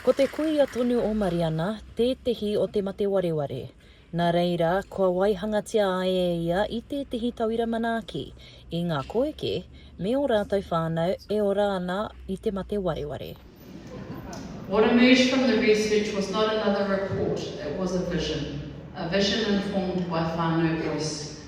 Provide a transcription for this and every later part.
Ko te kuia tonu o Mariana tētehi o te mate wareware. Nā reira, kua waihangatia ai e ia i tētehi tauira manaaki, i ngā koeke me ō rātou whānau e ora ana i te mate wareware. What emerged from the research was not another report, it was a vision. A vision informed by whānau voice.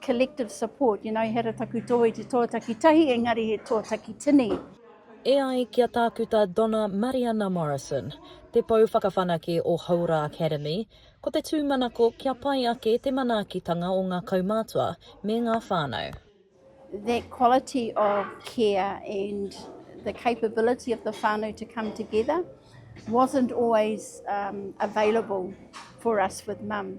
collective support, you know, he ara taku tō i te tō taki tahi, engari he tō taki tini. E ai ki a Tākuta Donna Mariana Morrison, Te Pou Whakawhanake o Hauora Academy, ko te tūmanako kia pai ake te manaakitanga o ngā kaumātua me ngā whānau. That quality of care and the capability of the whānau to come together wasn't always um, available for us with mum.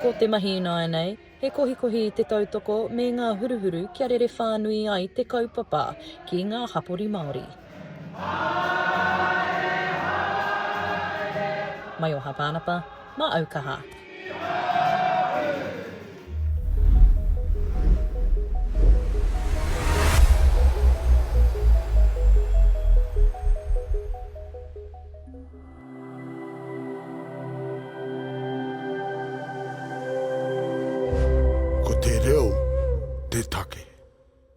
Ko te mahi ināianei, he kohikohi i te tautoko me ngā huruhuru kia rere whānui ai te kaupapa ki ngā hapori Māori. Maioha Pānapa, mā Aukaha. Ko te reo te take.